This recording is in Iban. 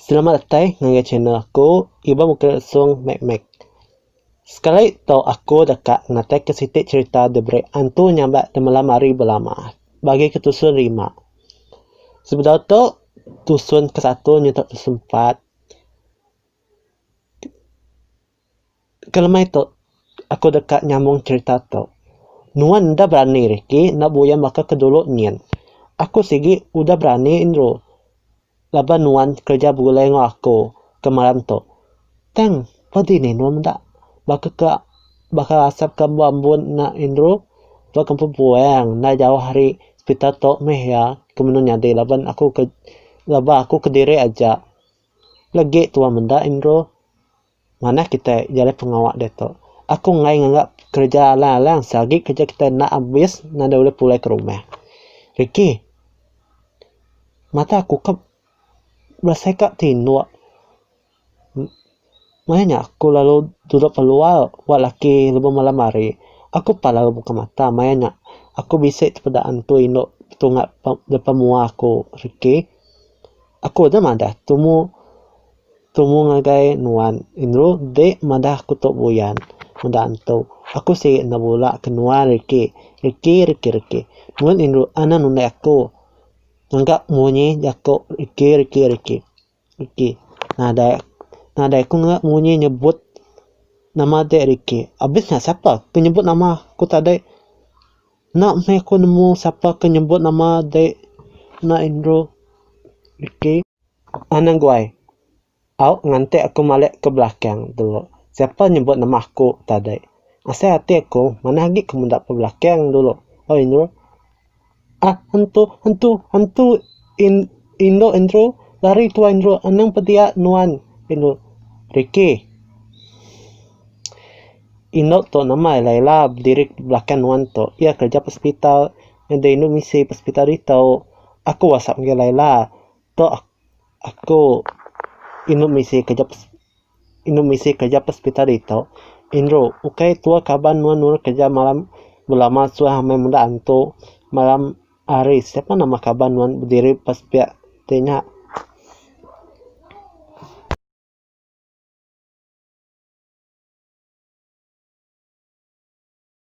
Selamat datai ngagai channel aku Iban Bukit Lesung Mek Mek. Sekali tu aku deka ngataka siti cherita diberi antu nya ba temalam hari belama bagi ke tusun lima. Sebedau tu tusun ke satu nyentuk tusun empat. kelemai tu aku deka nyambung cerita tu nuan enda berani riki enda buyan baka ke dulu nyin aku sigi udah berani indru laban nuan kerja begulai enggau aku kemaran tu tang pa dini nuan meda baka ke baka asap ke embu ambun nya indru ba kampung puang enda jauh ari hospital tu meh iya ke menu nyadi laban aku ke laban aku kediri aja. Legi tua menda Indro. Manah kitai jalai pengawa diatu. Aku enggai nganga kereja alang-alang sia agi kereja kitai enda abis nadai ulih pulai ke rumah. Ricky. Mata aku ka berasai ka tinduk. Maya nya aku lalu duduk keluar ba laki lebuh malam hari. Aku pan lalu buka mata maya nya aku bisi tepeda antu indu tunga depa mua aku rikih. Aku deh madah tumu tumu ngagai nuan indu deh madah aku tu buyan meda antu. Aku silik enda bula ke nuan riki riki riki riki. Nuan indu anang nundai aku ngaga munyi jaku riki riki riki. Ricky, nadai. Nadai aku ngera munyi nyebut nama dek Ricky. Abis nya sapa ke nyebut nama aku tadi. Enda meh aku nemu sapa ke nyebut nama dek enda Andrew. Ricky. An aguai. Au nganti aku malik ke belakang dulu. Sapa nyebut nama aku tadi. Asai ati aku manah agi ke meda ke belakang dulu. Oi Andrew. Ah hentu hentu hentu in indu indru lari tuai indru anang pebia nuan indu Ricky. Indu tu nama iya Laila bediri belakang nuan tu. Iya kerja hospital ngena indu misi hospital ditu. Aku whatsapp ngagai Laila. Tok aku inu misi kerja inu misi kerja pesepitai ditu Indru ukai tua kaban nuan nuan kerja malam belama suah amai menda antu malam hari siapa nama kaban nuan bediri pas pia ti nya.